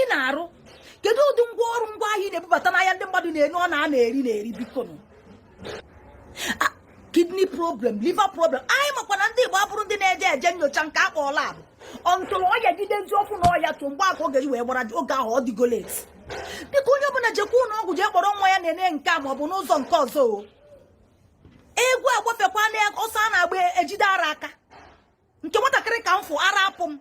ị na-arụ kedu ụdị ngwa ọrụ ngwa ahịa ị na-ebubata n'ahịa ndị mmadụ na-enu ọ na-ana eri na-eri biko nụ kidney problem liver problem anyị makwa na ndị Igbo abụrọ ndị na-eje eje nyocha nke a kpọ lab until ọya jide ndị ọkụ na ọya tụ mgbe aka oge wee gbara oge ahụ ọ dịgo late biko onye ọbụla jekwa ụlọ ọgwụ jee kpọrọ nwa ya na-ene nke a ma ọ bụ n'ụzọ nke ọzọ o egwu agbafekwa na ọsọ a na-agba ejide ara aka nke nwatakịrị ka m fụ ara apụ m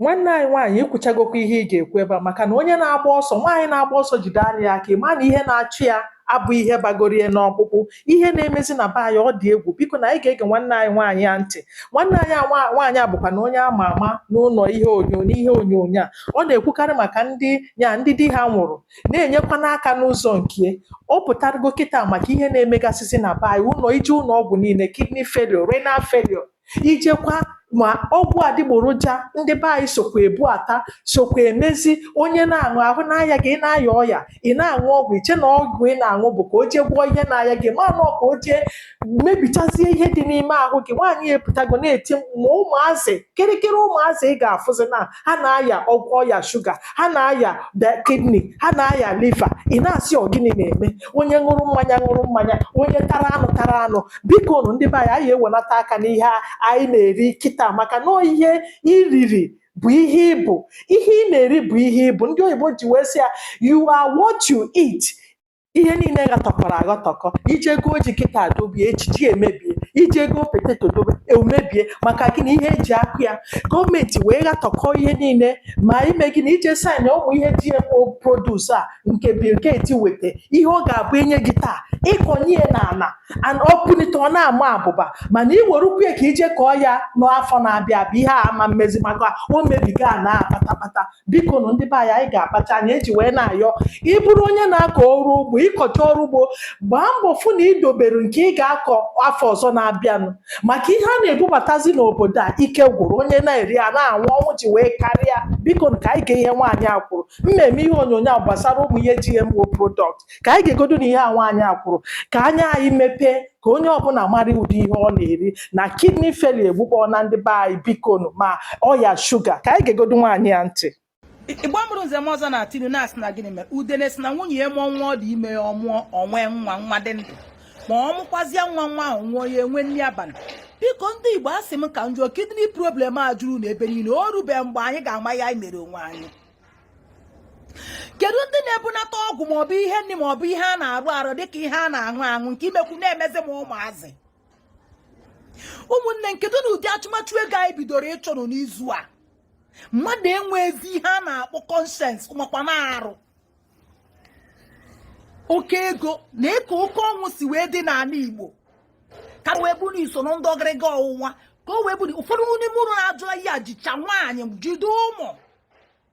nwanne anyị nwaanyị ikwuchagokwa ihe ị ga-ekwu ebe a maka na onye na-agba ọsọ nwaanyị na-agba ọsọ jide ara ya aka ịma na ihe na-achụ ya abụ ihe bagoro ya n'ọkpụkpụ ihe na-emezi na be anyị ọ dị egwu biko nụ anyị ga-ege nwanne anyị nwaanyị a ntị nwanne anyị nwaanyị a bụkwanụ onye ama ama n'ụlọ ihe onyonyo n'ihe onyonyo a ọ na-ekwukarị maka ndị ya ndị di ha nwụrụ na-enyekwanụ aka n'ụzọ nke ọ pụtarago kịta maka ihe na-emegasịzi na be anyị ụlọ ije ụlọ ọgwụ niile kidney failure renal failure ijekwa ma ọgwụ adịgboroja ndị be anyị sokwa ebubata sokwa emezi onye na-aṅụ ahụ na-aya gị ị na-aya ọya ị na-aṅụ ọgwụ iche na ọgwụ ị na-aṅụ bụ ka o jee gwọọ ihe na-aya gị mana ọ ka o jee mebichazie ihe dị n'ime ahụ gị nwaanyị epụtago na-eti ma ụmụazị kịrịkịrị ụmụazị ị ga-afụzi na ha na-aya ọya shuga ha na-aya kidney ha na-aya liva ị na-asị ọ gịnị na-eme onye ṅụrụ mmanya ṅụrụ mmanya onye tara anụ tara anụ biko nụ ndị be anyị anyị ewelata aka n'ihe anyị na-eri kịta maka na ihe i riri bụ ihe ị bụ ihe ị na-eri bụ ihe ị bụ ndị oyibo ji wee sị ya you are what you eat ihe niile ghatọkọrọ aghatọkọ ije goo ji kịta dobe echichi emebie ije goo poteto dobe emebie maka gịnị ihe eji akụ ya gọọmenti wee ghatọkọ ihe niile ma ime gịnị ije saịn ụmụ ihe GMO produce a nke Bill Gates weta ihe ọ ga-abụ enye gị taa ịkọnye ya n'ala and o punite ọ na-ama abụba mana ị were ukwu ya ka ije kọọ ya n'afọ na-abịa abịa ihe a ama mmezi maka o mebigo ana kpatakpata biko nụ ndị be anyị anyị ga-akpacha anya eji wee na-ayọ ị bụrụ onye na-akọ ọrụ ugbo ịkọcha ọrụ ugbo gbaa mbọ fụ na idobere nke ị ga-akọ afọ ọzọ na-abịanụ maka ihe a na-ebubatazi n'obodo a ike gwụrụ onye na-eri a na-anwụ ọnwụ ji wee karịa biko nụ ka anyị gee ihe nwaanyị a kwuru mmemme ihe onyonyo a gbasara ụmụ ihe GMO product ka anyị geegodu nụ ihe a nwaanyị a kwuru ka anya anyị mepee ka onye ọbụla mara ụdị ihe ọ na-eri na kidney failure egbukpọ na ndị be anyị bikonu ma ọya shuga ka anyị geegodu nwaanyị a ntị igbo mụrụ nze mụọ ọzọ na-etinụ na-asị na gịnị mere udene sị na nwunye ya mụọ nwa ọ dị ime ya ọ mụọ o nwee nwa nwa dị ndụ ma ọ mụkwazịa nwa nwa ahụ nwụọ ya enwe nri abalị biko ndị igbo asị m ka m jụọ kidney problem a jurunụ ebe niile o rube mgbe anyị ga-ama ihe anyị mere onwe anyị kedu ndị na-ebunata ọgwụ maọbụ ihe nri maọbụ ihe a na-ara ara dịka ihe a na-aṅụ aṅụ nke imekwu na-emezi m ụmụazị ụmụnne m kedu ụdị achụmachụ ego anyị bidoro ịchụ n'izu a mmadụ enwezi ihe a na-akpọ conscience makwa na-arụ oke ego nee ka oke ọnwụ si wee dị n'ala Igbo ka wee bụrụ iso na ndị ọgịrịga ọwụwa ka o wee bụrụ ụfọdụ n'ime ụlọ na-ajụ ya jicha nwaanyị jide ụmụ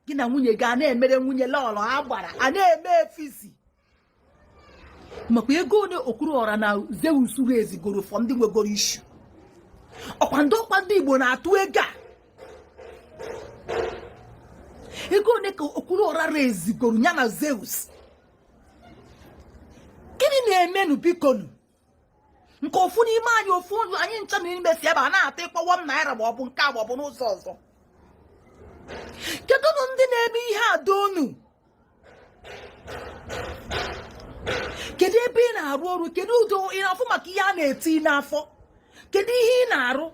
gị na nwunye gị a na-emere nwunye lọlọ a gbara a na-eme efizi makwa ego one Okwuluọra na Zeus ha ezigoro for ndị nwegoro issue ọkwa ndị ọkwa ndị Igbo na-atụ ego a ego one ka Okwuluọra ha ezigoro ya na Zeus gịnị na-emenụ bikonu nke ofu n'ime anyị ofu ụlọ anyị ncha na ime si ebe a na-ata ịkpọwa m naira ma ọ bụ nke a ma ọ bụ n'ụzọ ọzọ kedu na ndị na-eme ihe a dị onu kedu ebe ị na-arụ ọrụ kedu ụdị ị na-afụ maka ihe a na-eti n'afọ kedu ihe ị na-arụ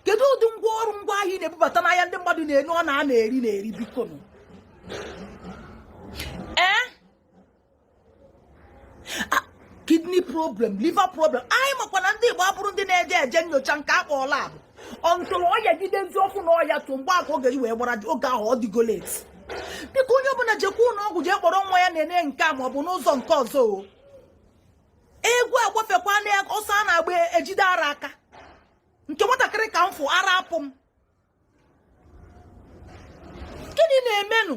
kedu ụdị ngwa ọrụ ngwa ahịa ị na-ebubata n'ahịa ndị mmadụ na-enye ọ na a na-eri na-eri bikonu kidney problem liver problem anyị makwa na ndị Igbo abụrọ ndị na-eje eje nyocha nke akpọ lab until ọya jidezi ọfụma ọya tụ mgbe aka oge wee gbara oge ahụ ọ dịgo late biko onye ọbụla jekwa ụlọ ọgwụ jee kpọrọ nwa ya na-ene nke a maọbụ n'ụzọ nke ọzọ o egwu agbafekwa na ọsọ a na-agba ejide ara aka nke nwatakịrị ka m fụ ara apụ m gịnị na-emenụ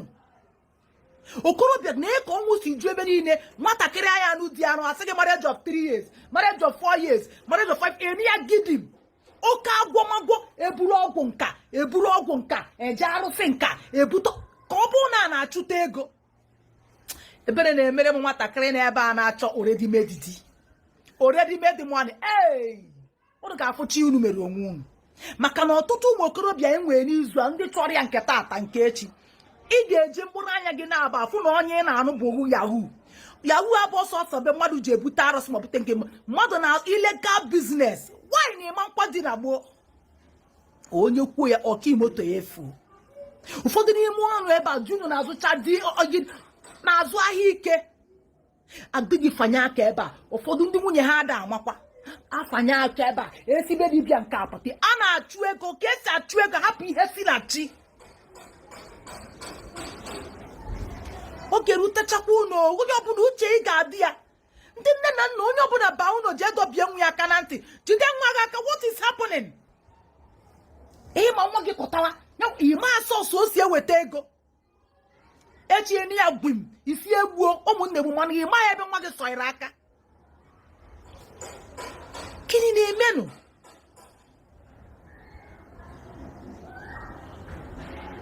okorobịa nee ka ọnwụ si ju ebe niile nwatakịrị a ya-anụ di anụ asị gị marriage of 3 years marriage of 4 years marriage of 5 eri ya gidim oke agwọmagwọ eburu ọgwụ nka eburu ọgwụ nka eje arụsị nka ebute ka ọ bụrụ na a na-achụta ego ebere na-emere m nwatakịrị na ebe a na-achọ already made di already made money ee unu ga-afụcha ihe unu mere onwe unu maka na ọtụtụ ụmụ okorobịa anyị nwere n'izu a ndị chọrọ ya nke taata nke echi ị ga-eji mkpụrụ anya gị naabọ afụ na onye ị na-anụ bụ ohu yahoo yahoo abụ ọsọ ọsọ be mmadụ ji ebute arụsị ma bute nke mmadụ na illegal business nwanyị na ịma nkwa dị na gboo onye kwuo ya ọkaimoto ya efu ụfọdụ n'ime ọrụ ebe a junu na-azụcha dị na-azụ ahịa ike adịghị fanye aka ebe a ụfọdụ ndị nwunye ha ada amakwa afanye aka ebe a esi be dibịa nke a pụta a na-achụ ego ka esi achụ ego hapụ ihe si na chi oge rutechakwa ụlọ onye ọbụla uche ya ga-adị ya ndị nne na nna onye ọbụla baa ụlọ jee dọbie nwa ya aka na ntị jide nwa gị aka what is happening ịma nwa gị kọtara ịma source o si eweta ego echie na ya gwim isi egbuo ụmụnne gbu mana ịma ya ebe nwa gị sọnyere aka gịnị na-emenụ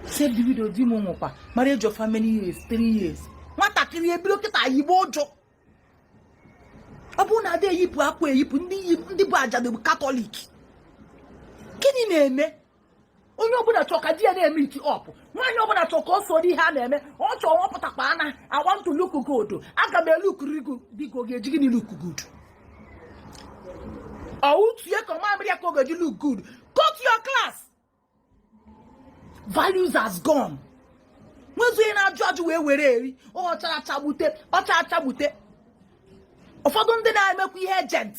save the widow di m nwụkwa marriage of how many years three years nwatakịrị ebido kịta yibe uju ọ bụ na ada eyipụ akwa eyipụ ndị bụ ajadu bụ katọlik gịnị na-eme onye ọbụla chọọ ka di ya na-emeet up nwaanyị ọbụla chọọ ka o soro ihe a na-eme ọ chọọ ọ pụtakwa ana I want to look good aga m elook good biko ị ga-eji gịnị look good ọwụ tue ka mamịrị ya ka ọ ga-eji look good go to your class values has gone nwezu onye na-ajụ ajụ wee were eri ọ chara acha gbute ọ cha acha gbute ụfọdụ ndị na-emekwa ihe agent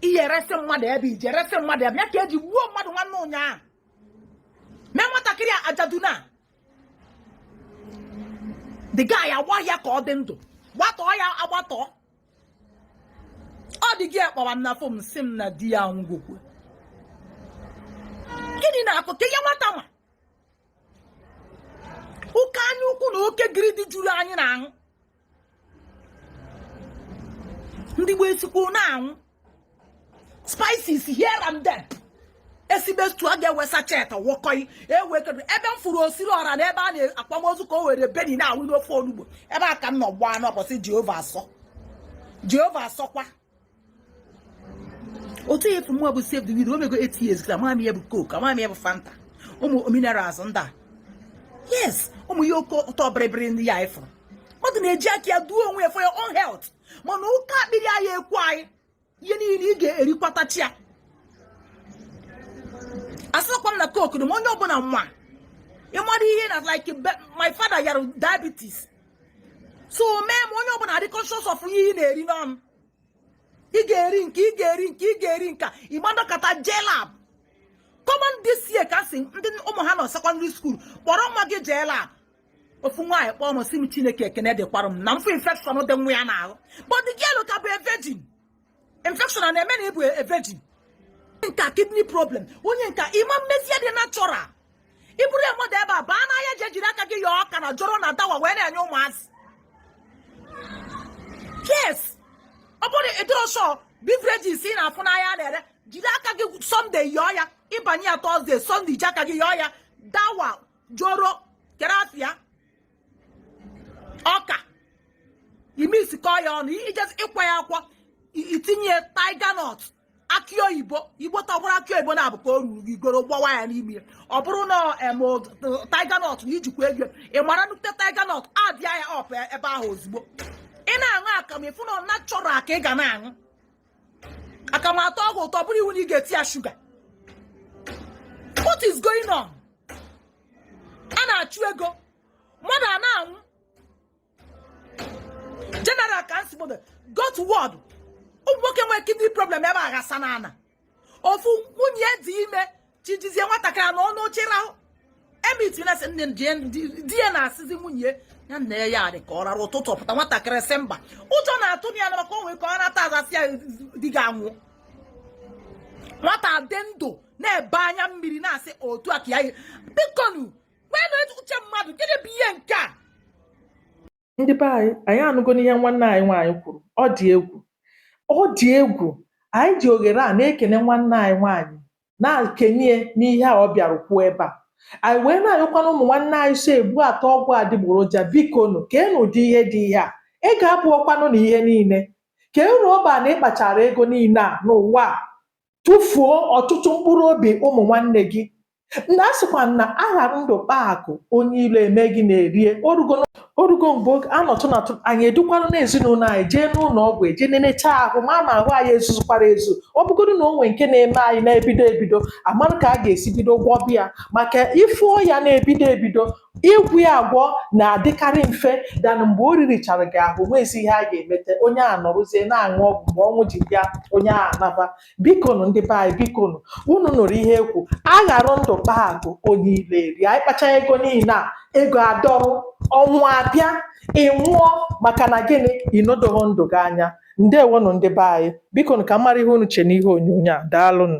ihe resị mmadụ ebe ije resị mmadụ ebe ya ka eji gbuo mmadụ nwanne ụnyaahụ mee nwatakịrị a ajadu na the guy agba ya ka ọ dị ndụ gbatọọ ya agbatọọ ọ dị gị akpọwa m na phone sị m na di ya anwụgokwa gịnị na-akụ ka ihe nwata ma oke anya ukwu na oke greed juru anyị n'ahụ ndị gboo esikwu na-anwụ spices here and there esibe stew a ga-ewe sachet wụkọọ ewe kedu ebe m fụrụ osiri ọra na ebe a na-akwa ozu ka o were benny na-awụ n'ofe onugbu ebe a ka m nọ gbaa n'obosi jehova asọ jehova asọkwa otu a fụ mụwa bụ save the widow o mego 8 years kịta m ama ihe bụ coke m ama ihe bụ fanta ụmụ minerals ndị a yes ụmụ ihe oke ụtọ bịrịbịrị ndị a anyị fụrụ mmadụ na-eji aka ya duo onwe ya for your own health mana oke akpịrị anyị ekwe anyị ihe niile ị ga-erikwatachi ya asịkwa m na coke dị ma onye ọbụla nwa ịmara ihe na like my father yara diabetes so o mee m onye ọbụla dị conscious of ihe ị na-eri n'ọnụ ị ga-eri nke ị ga-eri nke ị ga-eri nka ịgbadokata jee lab come on this year ka sị ndị ụmụ ha nọ secondary school kpọrọ nwa gị jee lab ofu nwaanyị kpọọ m sị m chineke ekene dịkwara m na m fụ infection dị nwa ya n'ahụ but the girl ka bụ a virgin infection a na-eme na ịbụ a virgin nka kidney problem onye nka ị ma-emezi dị natural ịbụrụ ya mmadụ ebe a baa n'ahịa jee jiri aka gị yọọ ọka na joro na dawa wee na-enye ụmụazị yes ọ bụrọ ụdịrị those beverages ị na-afụ n'ahịa na-ere jiri aka gị sunday yọọ ya ịbanye ya thursday sunday ji aka gị yọọ ya dawa joro kerafia ọka ị mixkọ ya ọnụ i jezie ịkwọ ya akwọ i tinye tiger nut akị oyibo igbo tọgbụrụ akị oyibo na-abụ ka o ruru gị goro gbawa ya n'ime ya ọ bụrụ na em tiger nut na i jikwa ego ị mara nnukwu tiger nut addịa ya up ebe ahụ ozugbo ị na-aṅụ akamụ ị fụ na ọ natural ka ị ga na-aṅụ akamụ atọọ gị ụtọ ọ bụrọ iwu na ị ga-eti ya shuga what is going on a na-achụ ego mmadụ a na-anwụ general cancer ward go to ward ụmụ nwoke nwere kidney problem ebe a ghasa n'ana ofu nwunye dị ime chijizie nwatakịrị nọ n'oche rahụ emit na-asị nne di ya na-asịzi nwunye ya naa ya adị ka ọ rara ụtụtụ ọ pụta nwatakịrị sị mba ụjọ na-atụ ya na maka o nwee ka ọ nata a za asị ya di gị anwụ nwata dị ndụ na-ebe anya mmiri na-asị otu a ka ya bikonu nweenụ uche mmadụ gịnị bụ ihe nke a ndị be anyị anyị anụgonụ ihe nwanne anyị nwaanyị kwuru ọ dị egwu ọ dị egwu anyị ji oghere a na-ekene nwanne anyị nwaanyị na-ekene ya n'ihe a ọ bịara kwuo ebe a anyị wee na-ayọkwanụ ụmụ nwanne anyị so ebubata ọgwụ adịgboroja bikonụ ka enụ ụdị ihe dị ihe a ego abụrọkwanụ na ihe niile kee uru ọ ba na ị kpachara ego niile a n'ụwa a tufuo ọtụtụ mkpụrụ obi ụmụ nwanne gị na a sịkwa na a ghara ndụ kpaa akụ onye ilo emee gịnị erie o rugo o rugo mgbe anọtụ natụ anyị edukwanụ na ezinụlọ anyị jee n'ụlọ ọgwụ e jee nenechaa ahụ ma ma ahụ anyị ezuzukwara ezu ọ bụgodu na o nwe nke na-eme anyị na-ebido ebido a marụ ka a ga-esi bido gwọba ya maka ị fụọ ya na-ebido ebido Ịgwọ ya agwọ na-adịkarị mfe than mgbe o ririchara gị ahụ, o nweghịzi ihe a ga-emete. Onye ahụ nọrọzie na-aṅụ ọgwụ. Mgbe ọnwụ ji bịa, onye ahụ anaba. Bikonụ, ndị be anyị, bikonụ, unu nụrụ ihe e kwuru. A ghara ndụ kpaa akụ, onye ilo erie. Anyị kpachaa ego niile a, ego adọrọ, ọnwụ abịa, ị nwụọ maka na gịnị? Ị nedoghị ndụ gị anya. Ndewonụ, ndị be anyị. Bikonụ, ka m mara ihe unu che n'ihe onyonyo a. Daalụnụ.